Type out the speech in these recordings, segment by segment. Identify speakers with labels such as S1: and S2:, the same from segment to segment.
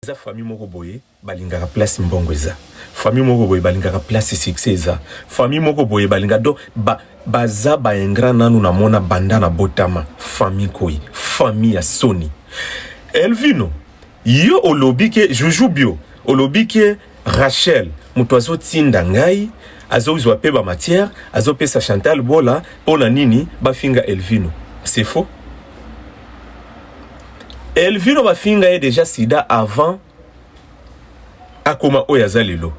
S1: Eza famille moko boye balingaka place mbongo eza famille moko boye balingaka place succès eza famille moko boye balinga do ba baza ba ingrat nanu na mona banda na botama famille koi famille ya soni Elvino yo olobi ke Juju Bio olobi ke Rachel mutu azo tinda ngai azo zua pe ba matière azo pesa Chantal bola pona nini ba finga Elvino c'est faux Elvino ba finga ye dejà sida avant akoma oyo aza lelo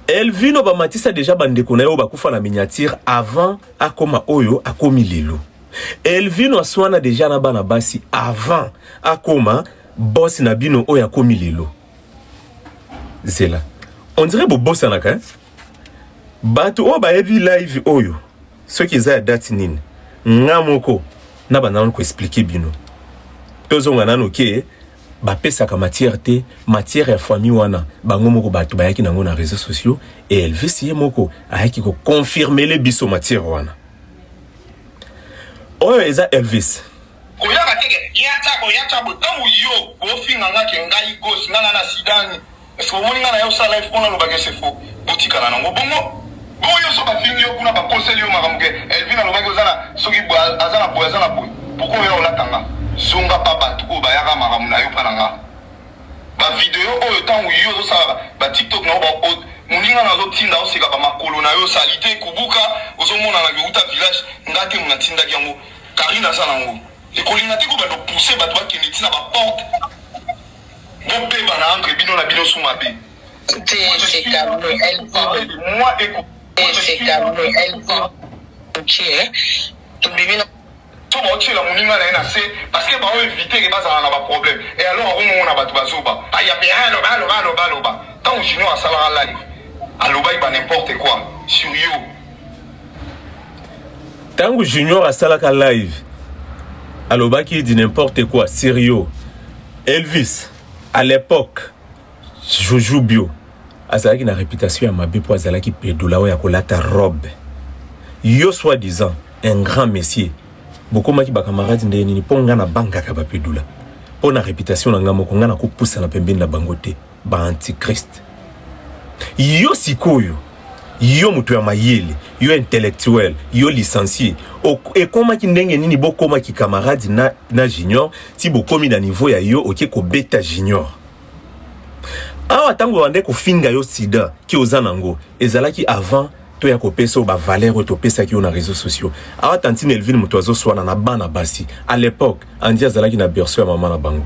S1: Elvino ba matisa dejà ba ndeko na yo ba kufa na miniature avant akoma oyo akomi lelo Elvino aswana dejà na bana basi avant akoma boss na bino oyo akomi lelo zela on dirait bobosanaka hein? bato oyo bayebi live oyo soki eza ya date nini nga moko na banda nanu koexplike bino tozonga nanu ke bapesaka matière te matière ya famille wana bango moko bato bayaki nango na réseaux sociaux e elvis ye moko ayaki koconfirmele biso matière wana oyo eza elvis Koyaka te ke
S2: ya tsabo ya tsabo tango yo bofinga nga ke ngai gosse nga na na sidani est ce que omoni nga na ya osala live pona aloba ke c'est faux botikala na ngo bongo bongo yo so bafingi yo kuna bakoseli yo makambo ke Elvine alobaki oza na soki boye aza na boye aza na boye pourquoi oya olata nga zonga pa bato oyo bayaka makambo na yo pa na nga ba video oyo tango yo ozosala ba tiktok na yo ba audio moninga na azotinda oseka bamakolo na yo salite kubuka ozomonana ke uta village nga te mona atindaki yango Carine aza na ngo ekolinga te ko bando pousser bato bakende ti na ba porte bobeba na entre bino na bino su mabe moi eko tobimi na to baotyela moninga na ye na se parceke bao evite ke bazala na baproblème e alors akomona bato bazoba aya mpe aloba aloba aloba aloba ntango junior asalaka live alobaki ba n'importe quoi sur yo
S1: tango junior asalaka live alobaki di n'importe quoi sérieux elvis à l'époque joujou bio azalaki na réputation ya mabe mpo azalaki pedola oyo akolata robe yo soit disant un grand messier bokomaki bakamarade ndenge nini mpo ngai nabangaka bapedula mpo na réputation na ngai moko ngai nakopusana pembeni na bango te Ba antichrist. Yo sikoyo yo moto ya mayele yo intellectuel yo licencie ekomaki ndenge nini bokoma ki camarade na, na junior ti bokomi na niveau ya yo oke kobeta junior awa ntango bande kofinga yo sida ti oza nango ezalaki avant to ya kopesa ba valeur oyo topesaki yo na réseaux sociaux awa tantine elvine moto azoswana na bana basi à l'époque andi azalaki na berceau ya mama na bango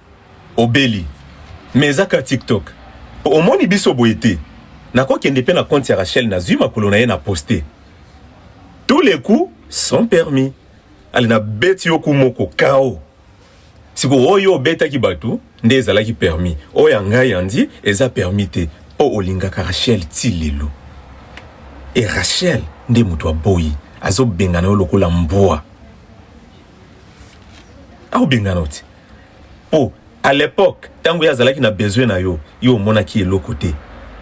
S1: Obeli mais eza kka tiktok po omoni biso boye te nako kende pe na compte ya Rachel nazui makolo naye na poste tout les coups sont permis allez na beti yo coup moko KO sikoyo oyo obetaki batu nde ezalaki permis oyo ya ngai Andy eza permis te po olingaka Rachel ti lelo et Rachel nde mutu aboyi azo bengana yo lokola mbwa. akobengana yo te po à l'époque tango ye azalaki na besoin na yo yo omonaki eloko te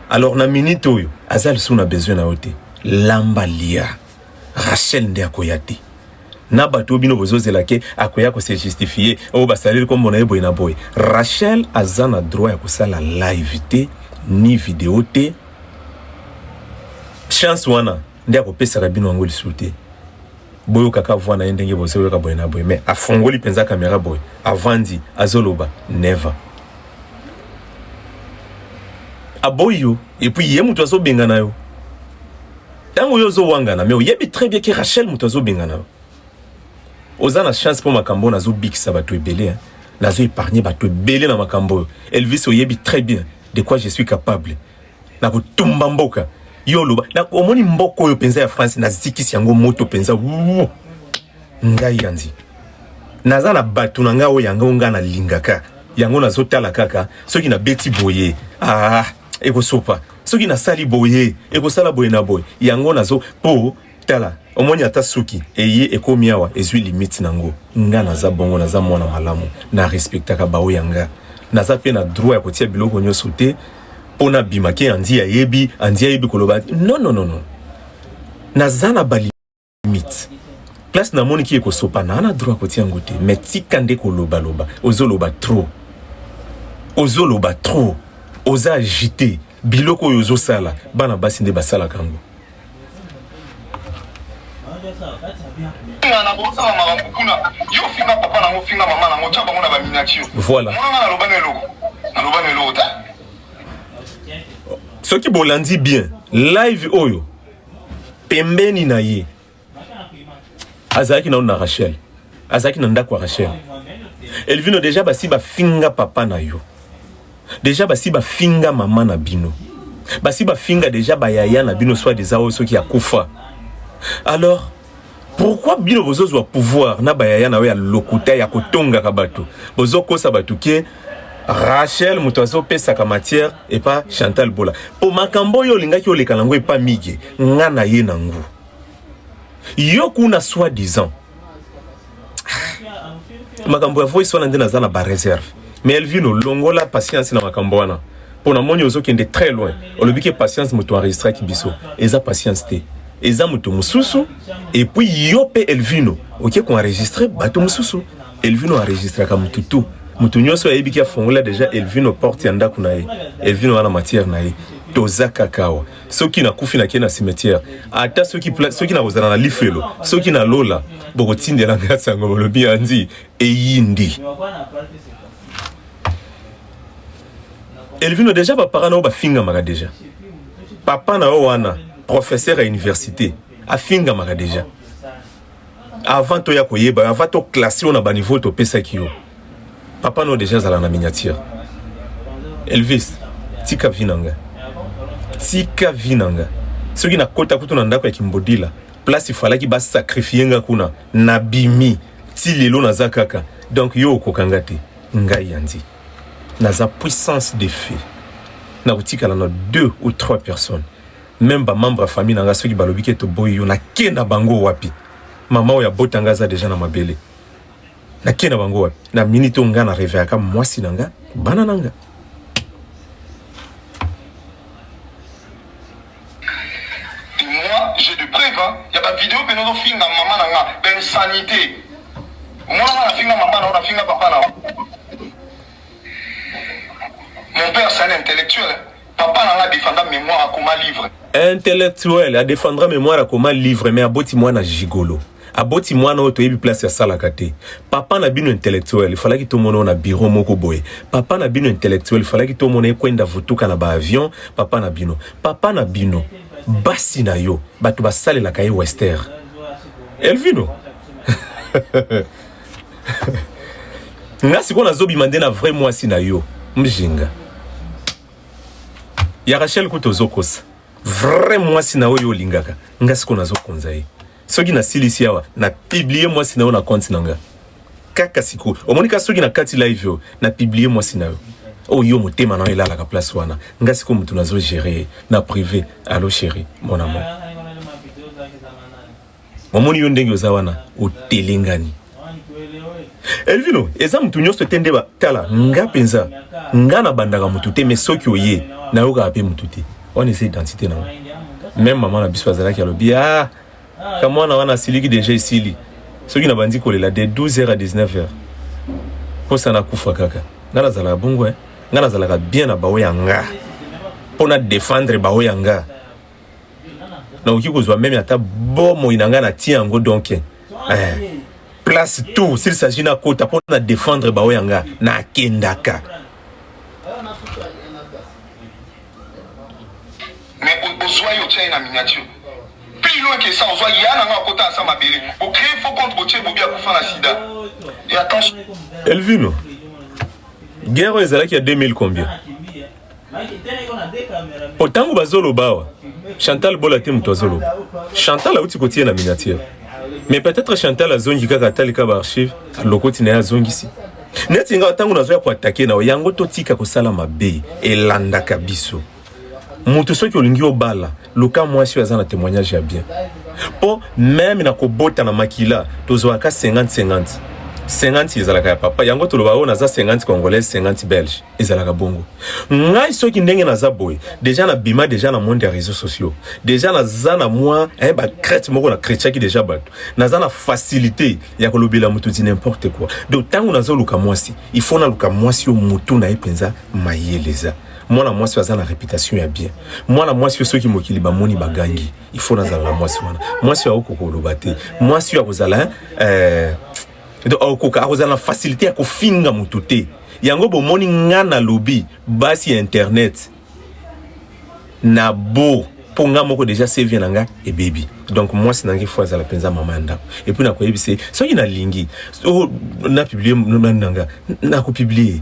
S1: alors na minute oyo aza lisusu na besoin na yo te lamba lia rachel nde akoya te na bato oyo bino bozozela ke akoya kose justifie oyo basaleli nkombo na ye boye na boye rachel aza na droit ya kosala live te ni video te chance wana nde akopesaka bino yango lisusu te boyoka ka voix na ye ndenge bozo yoka boye na boye mais afongoli mpenza kamera boye avandi azoloba never aboyi yo epuis ye moto azobengana yo ntango yo ozowangana mais oyebi très bien ke rachel moto azobengana yo oza na chance mpo makambo oyo nazobikisa bato ebele nazo épargne bato ebele na makambo oyo elvis oyebi très bien de quoi je suis capable na kotumba mboka yo oloba omoni mboka oyo mpenza ya france nazikisi yango moto mpenza ngai yanzi naza na bato na ngai oyo yango ngai nalingaka yango nazotala kaka soki nabeti boye ah, ekosopa soki nasali boye ekosala boye na boye yango nazo mpo tala omoni ata suki eye ekomi awa ezwi limite na yango nga naza bongo naza mwana malamu na respectaka bao ya nga naza mpe na droit ya kotia biloko nyonso te mpo nabima ke andi ayebi andi ayebi koloba non non non non naza na balimite place namoni ki ekosopana ana droit kotia yango te mais tika nde kolobaloba ozoloba trop ozoloba trop oza agite biloko oyo ozosala bana basi nde basalaka yango Voilà. soki bolandi bien live oyo pembeni na ye azalaki nano na rachel azalaki na ndako ya rachel elvino deja basi bafinga papa na yo Dejà basi ba finga maman na bino. Basi ba finga dejà ba yaya na bino soit disant oyo soki akufa. Alors pourquoi bino bozo zwa pouvoir na ba yaya na yo ya lokuta ya kotonga ka batu. Bozo kosa batu ke Rachel moto azo pesaka matière et pas Chantal Bola. Po makambo yo olingaki oleka nango et pas migue. Nga na ye nango. Yo kuna soit disant makambo ya voice wana nde naza na ba réserve mais elvino longola patience na makambo wana mpo na moni ozokende très loin olobi ke patience moto enregistraki biso eza patience te eza moto mosusu epuis yo mpe elvino oke koenregistre bato mosusu elvino enregistraka motu tu moto nyonso ayebi ki afongola deja elvino porte ya ndako na ye elvino wana matière na ye toza kaka awa soki nakufi nake na cimetière ata soki, soki nakozala na lifelo soki na lola bokotindela ngai sango bolobi anzi eyindi elvino deja bapara na yo bafingamaka deja papa na yo wana professeur ya université afingamaka deja avant toya koyeba avant to classe yo na ba niveau topesaki yo papa no deja azala na miniature elvis tika vi na nga tika vi na nga soki nakota kutu na ndako ya kimbodila place ifalaki basakrifie nga kuna nabimi ti lelo naza kaka donc yo okoka nga te ngai yandi naza puissance de feu nakotikala na deux ou trois personnes meme ba membre ya famille na nga soki balobi ke toboyi yo nake na bango wapi mama oyo abota nga aza deja na mabele nake na bango wapi na minute oyo nga na reveillaka mwasi na nga bana na nga
S2: j'ai de preuve hein. ya ba vidéo pe nozo finga mama na nga ba insanité mwana na finga mama na ona finga papa na mon père c'est un intellectuel hein. Papa na nga a defendra memoire akoma livre. Intellectuel
S1: a defendra memoire akoma livre mais aboti mwana gigolo. aboti mwana oyo toyebi place asalaka te papa na bino intellectuel efalaki tomona oyo na biro moko boye papa na bino intellectuel efalaki tomona ekwenda vutuka na baavion papa na bino papa na bino basi na yo bato basalelaka ye wester elvino nga sikoyo nazobima nde na vrai mwasi na yo mjinga ya rachel kutu ozokosa vrai mwasi na oyo olingaka nga sikoyo nazokonza ye soki nasilisi awa na publie mwasi na yo na konti na nga kaka sikoyo omoni ka soki na kati live oyo na publie mwasi na yo oyo oh, yo motema na yo elalaka place wana nga sikoyo motu nazo gere na prive allo chéri mon amour Omoni yo ndenge oza wana otelengani. Elvino eza mutu nyonso te nde batala nga mpenza nga nabandaka mutu te mais soki oye nayokaka mpe mutu te wana eza identité na nga meme mama na biso azalaki alobi ah kamwana wana asiliki deja esili soki nabandi kolela de 12 heures à 19 heures mposa nakufa kaka nga nazalaka bongo eh. nga nazalaka bien na baoyo ya nga mpo na defendre baoyo ya nga nakoki kozwa meme ata bomoi na ngai natie yango donk eh, place tout s'il s'agit nakota mpo na défendre baoyo ya ngai nakendaka
S2: ozwa yo otya ye na miniature pilo eke sa ozwa ya na nga akota asa mabele bocree fo compte botie bobi akufa na sida e attention elvino
S1: guerre oyo ezalaki ya 2000 combien po ntango bazoloba awa chantal bola te moto azoloba chantal auti kotie na miniature mais peut-être chantal azongi kaka atalika baarchive lokoti na ye azongisi neti nga ntango nazoya koatake na yo yango totika kosala mabe elandaka biso moto soki olingi obala Luka mwasi oyo aza na temoignage ya bien po meme na kobota na makila tozwaka 50 50 50 ezalaka ya papa yango toloba oyo naza 50 congolaise 50 belge ezalaka bongo ngai soki ndenge naza boye deja na bima deja na monde ya réseaux sociaux deja naza na mwa eh, bacrete moko na cretiaki deja bato naza na facilité ya kolobela moto di n'importe quoi donc ntango nazoluka mwasi il faut naluka mwasi oyo motu na ye mpenza mayele eza mwana mwasi oyo aza na reputation ya bien mwana mwasi oyo soki mokili bamoni bagangi il faut nazala na mwasi wana mwasi oyo akokoka koloba te mwasi oyo akozala hein, euh, donc akokoka akozala na facilité ya kofinga motu te yango bomoni nga nalobi basi ya internet na bo mpo nga moko deja cv na nga ebebi donc mwasi na ngai fo azala mpenza mama ya ndako epuis nakoyebisa ye soki nalingi oh, na publie nani na nga nakopiblie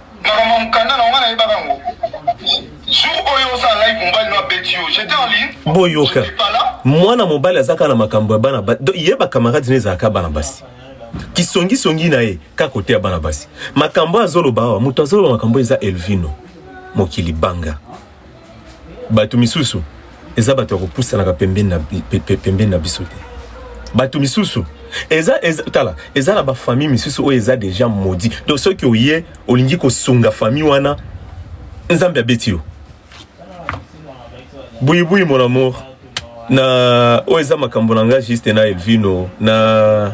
S2: Makambo ya mukanda na nga nayebaka yango. Jour oyo oza live mobali no abeti yo, j'étais en ligne. Boyoka.
S1: Mwana mobali azaka na makambo ya bana ba ye ba camarades ne ezalaka bana basi. Kisongi songi na ye ka kote ya bana basi. Makambo azoloba awa, moto azoloba makambo eza Elvino. Mokili banga. bato misusu eza bato ya kopusanaka pembeni na, pembeni na biso te bato misusu eza, eza tala eza na bafamille misusu oyo eza deja modi donc soki oye olingi kosunga famille wana nzambe abeti yo buibui mon amour na oyo eza makambo na ngai juste na elvino na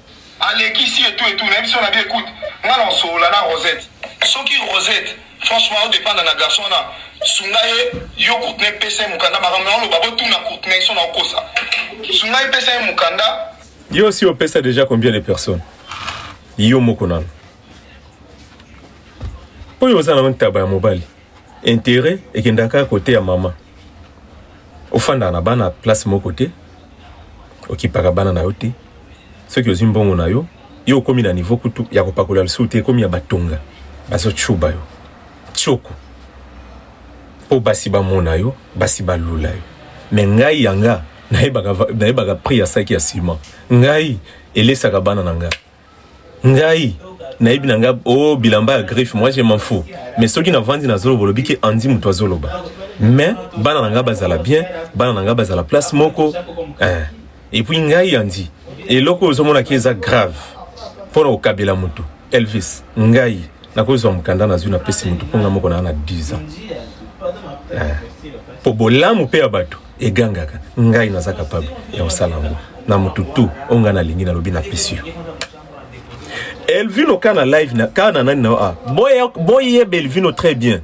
S1: alekisi
S2: etu etu nayebi so na bien écoute nga na osolola na rosette soki rosette franchement odepanda na garçon wana sunga ye yo courtney pesa ye mokanda makambo na oloba botuna courtney so na okosa sunga ye pesa ye mokanda yo osi opesa
S1: déjà combien de personnes yo moko nano oyo oza na ntaba ya mobali Interet ekendaka kaka kote ya mama. Ofandaka na bana place moko te, okipaka bana na yo te. Soki ozwi mbongo na yo, yo okomi na niveau kutu ya kopakola lisusu te, ekomi ya batonga bazotshuba yo tshoku mpo basi bamona yo, basi balula yo. Me ngai yanga nayebaka, nayebaka prix ya saki ya ciment, ngai elesaka bana na ngai ngai nayebi na ngai o oh, bilamba ya griffe moi je m'en fous mais soki navandi nazoloba olobi ke andi moto azoloba mais bana na ngai bazala bien bana na ngai bazala place moko eh. epuis ngai andi eloko oyo ozomonaki eza grave mpo na kokabela motu elvis ngai nakozwa mokanda nazwi napesi motu mpo ngai moko naa na 10 ans mpo eh. bolamu mpe ya bato egangaka ngai naza capable ya kosala yango na motu tu oyo ngai nalingi nalobi na pesi yo elvino ka na live na ka na nani na ah boye belvino très bien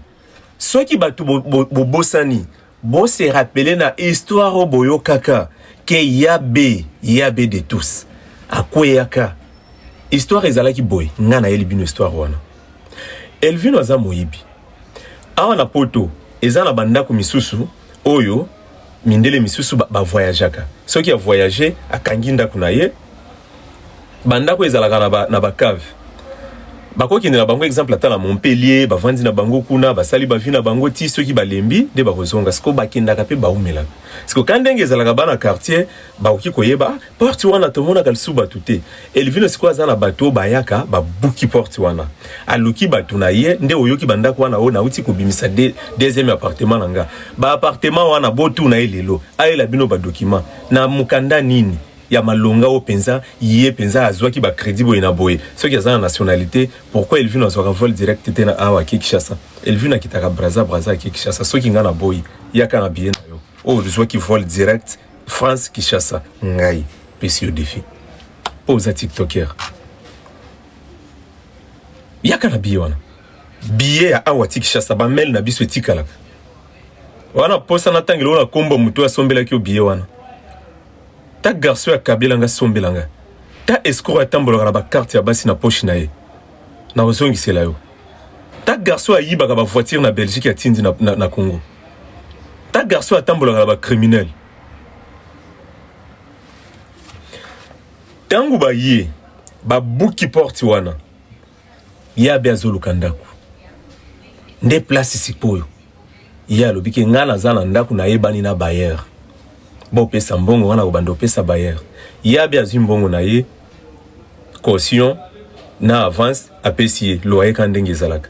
S1: soki bato bobosani bo, bo se rappeler na histoire oyo boyokaka ke yabe yabe de tous akweyaka histoire ezalaki boye ngai nayeli bino histoire wana elvino aza moyibi Awa na poto eza na ba ndaku misusu oyo mindele misusu ba voyagaka soki a voyage akangi ndaku na ye ba ndaku ezalaka na ba na ba cave bakokende na bango exemple ata na Montpellier bavandi na bango kuna basali bavi na bango ti soki balembi nde bakozonga siko bakendaka mpe baumelaka siko ka ndenge ezalaka bana quartier bakoki koyeba Porte wana tomonaka lisusu batu te. Elvino sikoyo aza na batu oyo bayaka ba buki porte wana. Aluki batu na ye nde oyoki ba ndaku wana oyo nawuti ko bimisa de, deuxième appartement na nga. Ba appartement wana bo tuna ye lelo ayela bino ba document na mukanda nini ya malonga oyo penza ye penza azuaki ba credit boye na boye. Soki aza na nationalite pourquoi Elvino azuaka vol direct te na awa ake Kinshasa? Elvino akitaka Brazza, Brazza ake Kinshasa. Soki nga na boyi yaka na billet na yo oyo ozuaki vol direct France Kishasa ngai pesi yo defi po oza tiktoker yaka na biye wana biye ya awa ti Kishasa bamele na biso etikalaka wana posa na ntango eloko na kombo moto asombelaki yo biye wana ta garso ya kabila nga sombela nga ta escro atambolaka na bakarte ya basi na poshi na ye nakozongisela yo ta garso ayibaka bavoitire na belgique atindi na, na, na congo ta garçon atambolaka na ba criminel ntango baye babuki porte wana ye abe azoluka ndako nde place sikoyo ye alobi ke ngai naza na ndako nayebani na bayer bopesa mbongo wana kobanda opesa bayer ye abe azwi mbongo na ye caution na avance apesi ye loyer ka ndenge ezalaka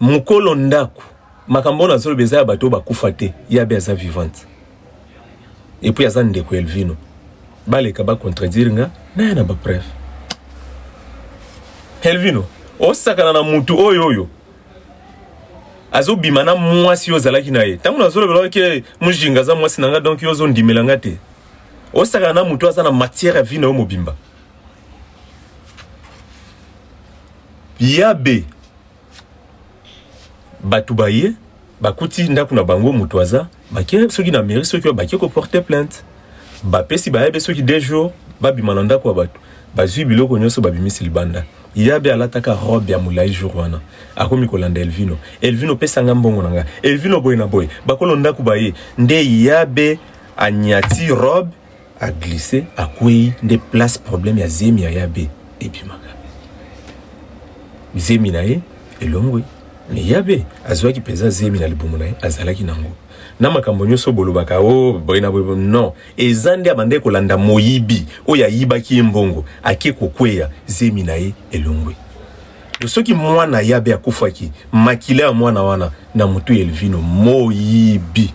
S1: Mukolo ndaku makambo oyo nazoloba eza ya bato oyo bakufa te ye abe aza vivante et puis aza ndeko ya Elvino baleka ba contredire nga naya na ba preuve Elvino osakana na mutu oyo oyo azobima na mwasi oyo ozalaki na ye ntango nazolobela oke mujinga aza mwasi na nga donk yo ozondimela nga te osakana na mutu aza na matière ya vie na yo mobimba yabe batu baye bakuti ndaku na bango mutu aza bake soki na mairie soki bake ko porter plainte bapesi bayabe soki deux jours babima na ndaku ya batu bazui biloko nyonso babimisi libanda yabe alataka robe ya mulayi jour wana akomi kolanda Elvino Elvino pesa nga mbongo na nga Elvino boye na boye bakolo ndaku baye nde yabe anyati robe A glisse akweyi nde place problème ya zemi ya ya be ebimaka. Zemi na ye elongwe. Mais ya be azuaki penza zemi na libumu na ye azalaki na ngo. Na makambo nyoso bolobaka o oh, boye na boye non. Eza nde abandaki kolanda moyibi oyo ayibaki ye mbongo ake kokweya zemi na ye elongwe. Donc soki mwana ya be akufaki makila ya mwana wana na mutu ya Elvino moyibi.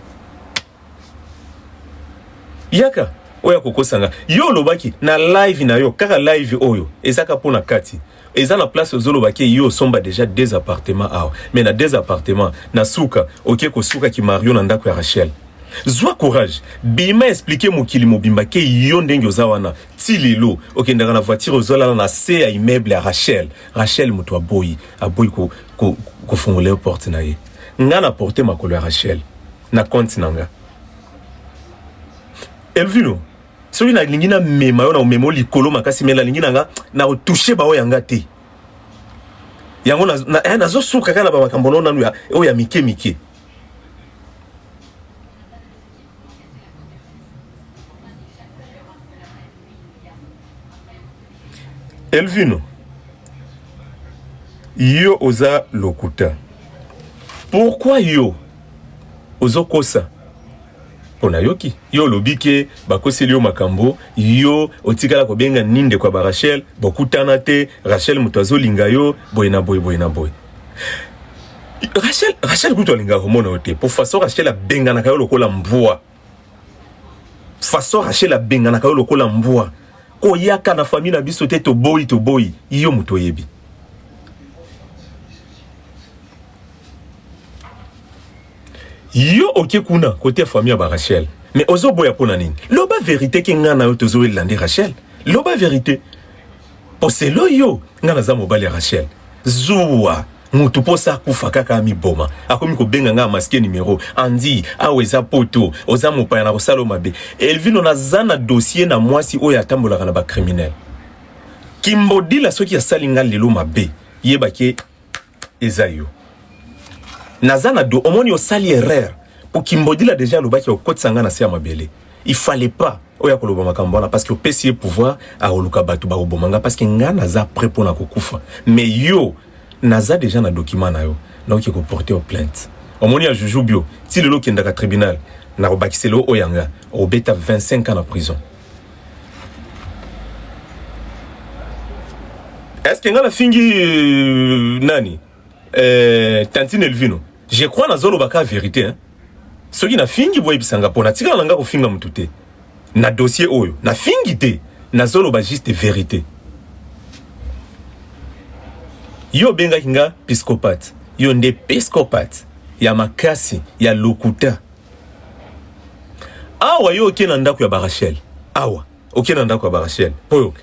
S1: yaka oya kokosa nga yo olobaki na live na yo kaka live oyo ezaka mpo na kati eza na place ozoloba ke yo osomba deja deux appartement awa me na deux appartement na suka oke kosuka ki mario na ndako ya rachel zwa courage bima explike mokili mobimba ke yo ndenge oza wana ti lelo okendaka na voiture ozolala na se ya immeuble ya rachel rachel moto aboyi aboyi kofungola ko, ko yo porte na ye nga na porte makolo ya rachel na compte na nga elvino soki nalingi namema yo na omema yo likolo makasi me nalingi na nga na otouche baoyo ya nga te yango nazosuka eh, kaka na bamakambo nao nanu oyo ya mike mike elvino yo oza lokuta pourkui yo ozo kosa pona yoki yo olobi ke bakoseli yo makambo yo otikala kobenga ni ndeko ya ba Rachel bokutana te Rachel moto azolinga yo boye na boye boye na boye Rachel Rachel kutu alingaka komona yo te po façon Rachel abenganaka yo lokola mbwa façon Rachel abenganaka yo lokola mbwa koyaka na famille na biso te toboyi toboyi yo moto oyebi yo oke kuna kote ya famille ya ba Rachel mais ozoboya mpo na nini loba verité ke ngai na yo tozowelela nde Rachel loba verité Po selon yo nga naza mobali ya Rachel? Zuwa mutu posa akufa kaka amiboma akomi kobenga nga masque numero Andy awa eza poto oza mopaya nakosala yo mabe Elvino naza na dossier na muasi oyo atambolaka na ba criminel Kimbodila soki asali nga lelo mabe yeba ke eza yo naza na do omoni osali erreur po kimbodila deja alobaki okotisa ngai na se ya mabele il fallait pas oya koloba makambo wana parce que opesi ye pouvoir akoluka bato bakoboma ngai parce que ngai naza prêt mpo na kokufa mais yo naza deja na document na yo naoki koporte yo plainte omoni ya juju bio ti lelo okendaka tribunal nakobakisela yo oyo yanga obeta 25 ans na prison est-ce que nga na fingi euh, nani euh, tantine elvino je crois nazoloba ka vérité hein? soki na fingi boyebisa nga mpo natikala na nga kofinga motu te na dossier oyo na fingi te nazoloba juste vérité yo obengaki nga piscopate yo nde piscopate ya makasi ya lokuta awa yo oke na ndako ya barachel awa oke na ndako ya barachel mpo yoke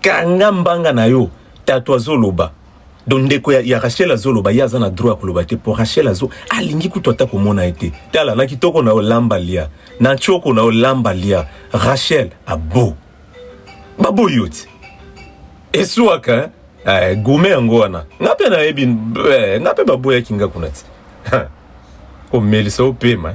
S1: Kanga mbanga na yo tatu azo loba donc ndeko ya, ya Rachel azo loba ye aza na droit ya koloba te po Rachel azo alingi kutu ata komona ye te tala na kitoko na yo lamba lia na choko na yo lamba lia Rachel abo baboyi yo ti esuaka hein? eh, gume yango wana nga mpe nayebi eh, nga mpe baboyaki nga kuna ti omelisa opema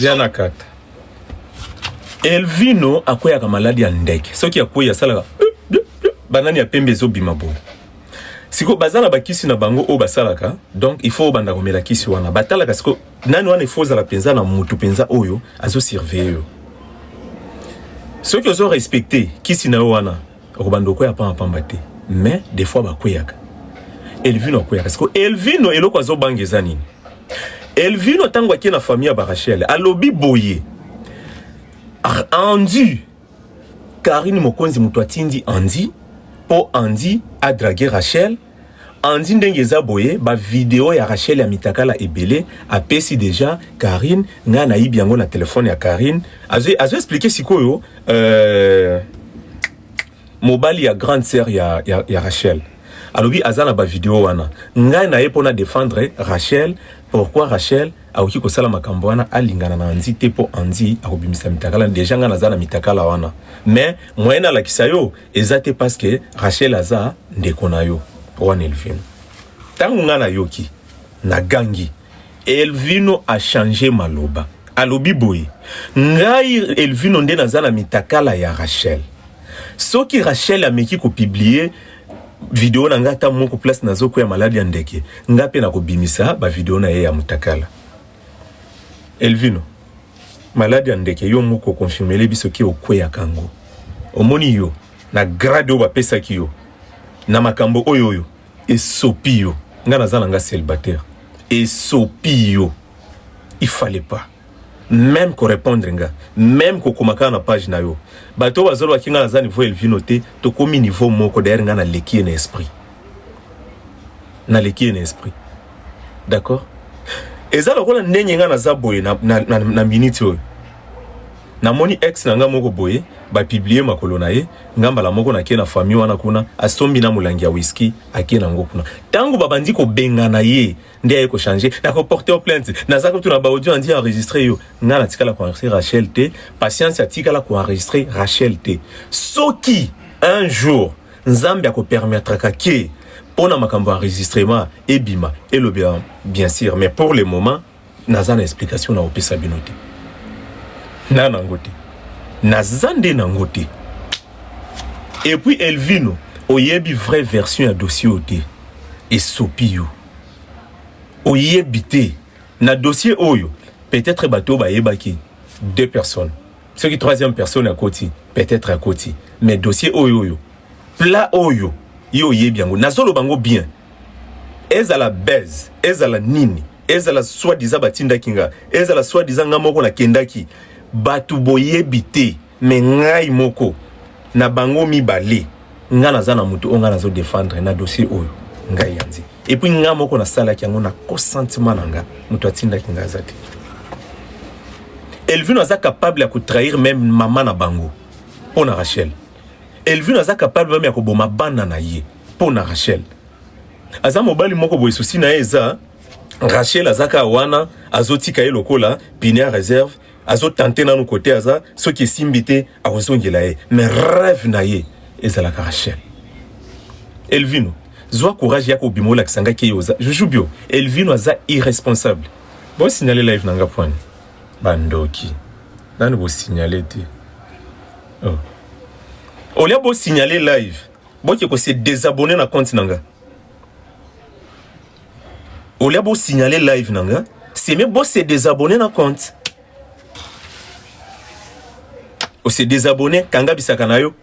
S1: Diana Kata Elvino akweyaka maladi ya ndeke soki akwei asalaka banani ya pembe ezobima boye siko baza na bakisi na bango oyo basalaka donc il faut obanda komela kisi wana batalaka siko nani wana ifo ozala mpenza na mutu mpenza oyo azosurveille yo soki ozo respecte kisi na yo wana okobanda okweya pamba pamba te mais des fois bakweyaka elvino akweyaka siko elvino eloko azobanga eza nini elvino ntango akie na famille ya barachele alobi boye endu Carine Mokonzi mutu atindi Andy po Andy a drague Rachel Andy ndenge eza boye ba video ya Rachel ya mitakala ebele apesi deja Carine nga na yibi yango na telefone ya Carine azo azo expliquer sikoyo euh, mobali ya grande sœur ya, ya, ya Rachel alobi aza na ba video wana ngai na ye pona defendre Rachel pourquoi Rachel akoki kosala makambo wana alingana na anzi te mpo anzi akobimisa mitakala deja ngai naza na mitakala wana mais moyen alakisa yo eza te parce que rachel aza ndeko na yo wana elvino ntango ngai nayoki nagangi elvino achange maloba alobi boye ngai elvino nde naza na mitakala ya rachel soki rachel ameki kopiblie video na nga ata moko place nazo ko ya maladi ya ndeke nga pe nakobimisa ba video na ye ya mutakala Elvino maladi ya ndeke yo moko confirmele biso ki okweya kango omoni yo na grade oyo bapesaki yo na makambo oyo oyo esopi yo nga naza na nga célibataire esopi yo il fallait pas meme ko repondre nga meme ko koma kaka na page na yo bato oyo bazoloba ki nga naza niveau ya Elvino te tokomi niveau moko d'ailleurs nga naleki ye na esprit naleki ye na esprit d'accord eza lokola ndenge nga naza boye na, na, na, na minute oyo namoni ex na nga moko boye bapiblie makolo na ye nga mbala moko nake na famille wana kuna asombi na molangi ya whisky ake na yango kuna ntango babandi kobengana ye nde aye ko changer na ko porter plainte naza kutu na ba audio andi enregistrer yo nga na tikala ko enregistrer Rachel te patience atikala ko enregistrer Rachel te soki un jour nzambe ako permettre ka ke pona makambo enregistrement ebima elobela bien sûr mais pour le moment naza na explication na opesa bino te na nango te naza nde nango te et puis Elvino oyebi vraie version ya dossier oyo te esopi yo oyebite na dossier oyo peut-être bato bayebaki deux personnes soki troisième personne akoti peut-être akoti mais dossier oyo oyo plat oyo yo oyebi yango nazoloba yango bien ezala base ezala nini ezala soi-disant batindaki nga ezala soi-disant nga moko nakendaki bato boyebi te Mais ngai moko na bango mibale nga naza na moto oyo nga nazo defendre na dossier oyo ngai yanzi et puis nga moko nasalaki yango na consentement na nga moto atindaki nga aza te Elvino aza capable ya kotrahir meme mama na bango mpo na Rachel Elvino aza capable meme ya koboma bana na ye mpo na Rachel aza mobali moko boye susi na ye eza Rachel azaka wana azotika ye lokola pine ya reserve azo tente nanu kote aza soki esimbi te akozongela ye mais rêve na ye ezalaka rachel elvino zwa courage ya kobima olakisa ngai ke oza juju bio elvino aza irresponsable bosignale live na nga pwani bandoki nani bosignale te oh. olia bosignale live boke kose desabonne na compte na nga olia bo signaler live na nga c'est même bo se désabonner na compte o se désabonner kanga bisaka na yo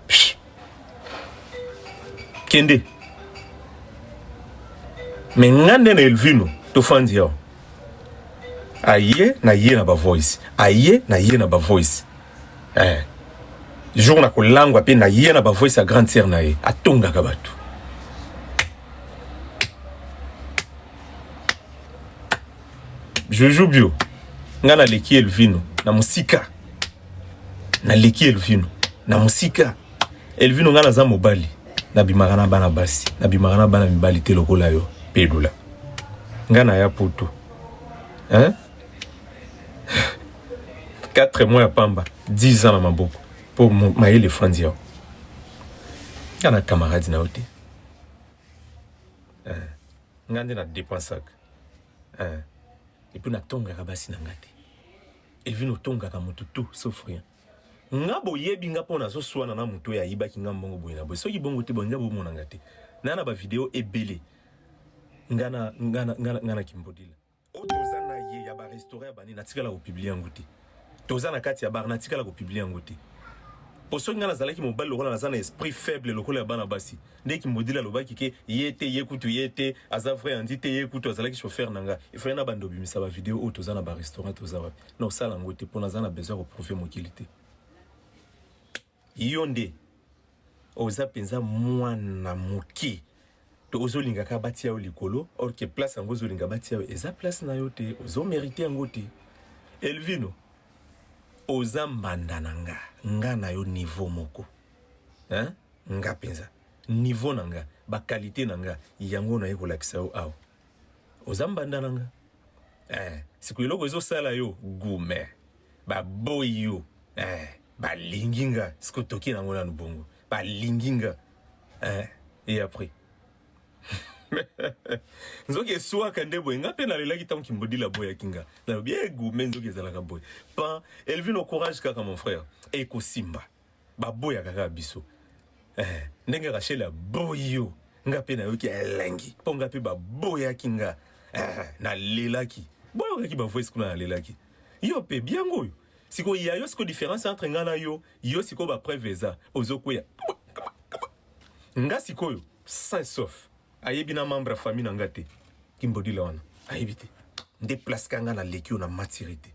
S1: kende mais nga nde na elvino tofandi yo aye na ye na ba voice aye na ye na ba voice eh jour na kolangwa pe na ye na ba voice ya grande sœur na ye atongaka bato joujou bio ngai naleki elvino na mosika naleki elvino na mosika elvino ngai naza mobali nabimaka na bana basi nabimaka na bana mibali te lokola yo pelula ngai naya poto hein? 4 mois ya pamba 10 ans na maboko mpo mayele efandi yao nga na camarade na yo te eh, nga nde na dépensaka eh, epuis natongaka basi na nga te evine otongaka motu tout sauf rien nga boyebi nga mpo nazoswana na motu oyo ayibaki nga mbongo boye na boye soki bongo te bonja bomona nga te na na bavideo ebele nga na kimbodila oyo toza na ye ya barestaurant ya bani natikala kopiblie yango te toza na kati ya bar natikala kopiblie yango te po soki ngai nazalaki mobali lokola naza na esprit faible lokola ya bana basi nde kimodili alobaki ke ye te ye kutu ye te aza vrai andi te ye kutu azalaki chauffeur na ngai efai na bando obimisa bavideo oyo toza na barestaurant toza wapi na osala yango te mpo naza na besoin ya koprouve mokili te Yo nde oza penza mwana muke to ozo linga ka batia yo likolo or que place yango ozo linga batia yo eza place na yo te ozo merite yango te Elvino oza mbanda na nga nga na yo niveau moko hein nga penza niveau na nga ba qualité na nga yango na ye kolakisa yo awa oza mbanda na nga eh siko eloko ezo sala yo gume baboyi yo eh, balingi nga siko toki nango nanu bongo balingi nga eh, et après nzoki eswaka nde boye nga mpe nalelaki ntango kimbodila aboyaki nga nalobi egume eh, nzoki ezalaka boye pan elvino courage kaka mon frère ekosimba baboyaka kaka biso eh, ndenge rachel aboyi yo nga mpe nayoki elengi mpo nga mpe baboyaki nga eh, nalelaki boyokaki bavoice kuna nalelaki yo mpe biango oyo sikoyo ya yo sikoyo différence entre nga na yo yo sikoyo bapreuve eza ozokweya nga sikoyo sain sauf ayebi na membre ya famille na nga te kimbodila wana ayebi te nde place ka nga naleki yo na matiri te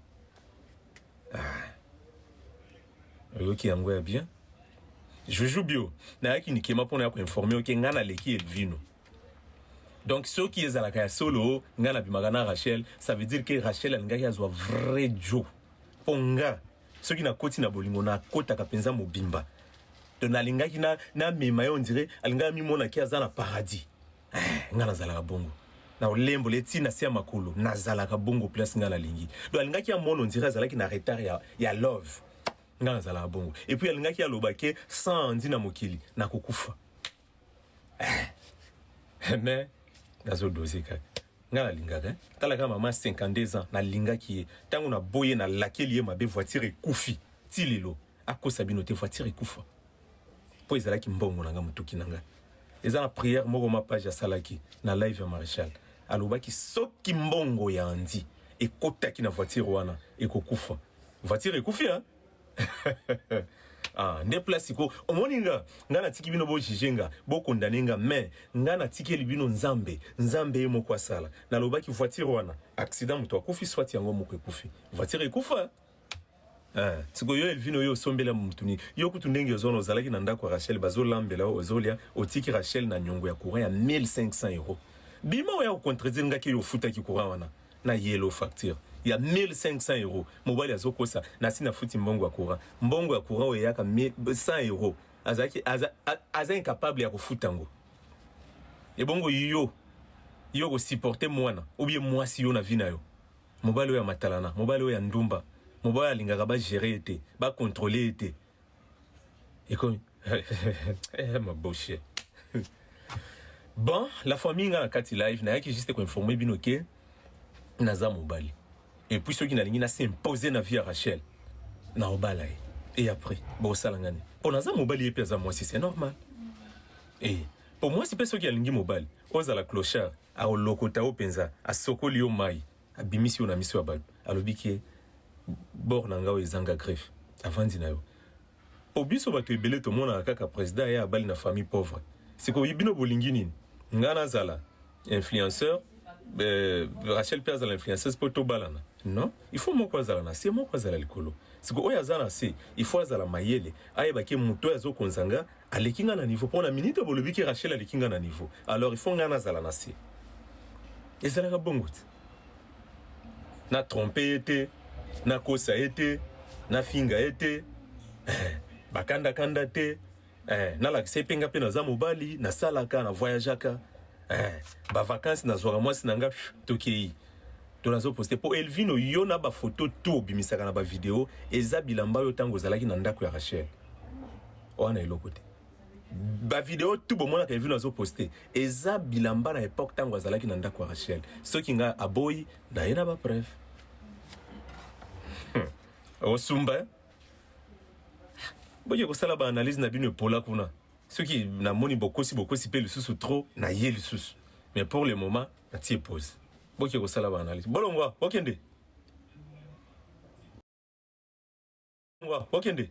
S1: ah. oyoki yango ya bien juju bio nayaki nikema mpo na ya koinforme oke ngai naleki elvino donc soki ezalaka ya solo ngai nabimaka na rachel ça veut dire ke rachel alingaki azwa vrai jo mpo ngai soki nakoti na bolingo nakotaka mpenza mobimba to nalingaki namema na ye ondire alingaki amimona ke aza na paradis Eh, nga nazalaka bongo na olembo le ti na se ya makolo nazalaka bongo place nga nalingi do alingaki ya mono nzira azalaki na retard ya, ya love nga nazalaka bongo et puis alingaki aloba ke sans ndi na mokili nakokufa eh. mais nazodoze kaka nga nalingaka eh? talaka mama 52 ans nalingaki ye ntango naboye nalakeli ye mabe voiture ekufi ti lelo akosa bino te voiture ekufa po ezalaki mbongo na nga mutuki na nga eza na prière moko ma page asalaki na live ya Marechal alobaki soki mbongo ya Andy ekotaki na voiture wana ekokufa voiture ekufi hein ah nde place ko omoni nga nga natiki bino bojuge nga bokondane nga mais nga natikeli bino nzambe nzambe ye moko asala nalobaki voiture wana accident moto akufi swati yango moko ekufi voiture ekufa Eh, siko yo Elvino yo osombeli ya mutu nini? Yo kutu ndenge ozona ozalaki na ndako ya Rachel bazo lambela yo ozolia otiki Rachel na nyongo ya courant ya 1500 euros. Bima oya ko contredire nga ke yo ofutaki courant wana na yellow facture ya 1500 euros. Mobali azokosa nasi nafuti mbongo ya courant. Mbongo ya courant oyo eyaka 100 euros. Azalaki aza, a- aza incapable ya kofuta yango. Ebongo yo yo ko supporter mwana ou bien mwasi yo na vie na yo. Mobali oyo ya matalana, mobali oyo ya ndumba, mobali oyo alingaka ba gerer ye te, ba controler ye te. Ekomi eh ma boshe. Bon, la famille nga na kati live, nayaki juste ko informer bino ke naza mobali. Et puis soki nalingi na s'imposer na vie ya Rachel, na obala ye. Et après, bo sala ngani. Po naza mobali ye pe aza mwasi, c'est normal. Eh, po mwasi pe soki alingi mobali, Ozala clochard akolokota yo penza, asokoli yo mayi, abimisi yo na miso ya batu, alobi ke bord na nga oyo ezanga greffe, avandi na yo po biso batu ebele tomonaka kaka president aya abali na famille pauvre. Sikoyo bino bolingi nini? Nga nazala influenceur euh, Rachel mpe azala influenceuse mpo tobalana non il faut moko azala na se moko azala likolo siko oyo aza na se il faut azala mayele ayebaki moto oyo azokonza nga Aleki nga na niveau po na minute bolobi ke Rachel aleki nga na niveau. Alors il faut nga nazala na se. Ezalaka bongo te. Na trompe ye te, na kosa ye te, na finga ye te. Eh, bakanda kanda te. Eh, nalakisa ye mpe nga mpe naza mobali, nasalaka, na voyageaka. Eh, ba vacances nazwaka mwasi na nga tokei. to nazo poste po Elvino yo na ba photo to bimisaka na ba video eza bilamba yo tango ozalaki na ndako ya Rachel wana eloko te ba video tout bon mona Elvino azo poste eza bilamba na époque tango azalaki na ndako ya Rachel soki nga aboyi na ye na ba preuve hmm. osumba eh? boye kosala ba analyse na bino epola kuna soki namoni bokosi bokosi pe lisusu trop na ye lisusu mais pour le moment natie pose boke kosala ba analyse bolongwa bokende ngwa bokende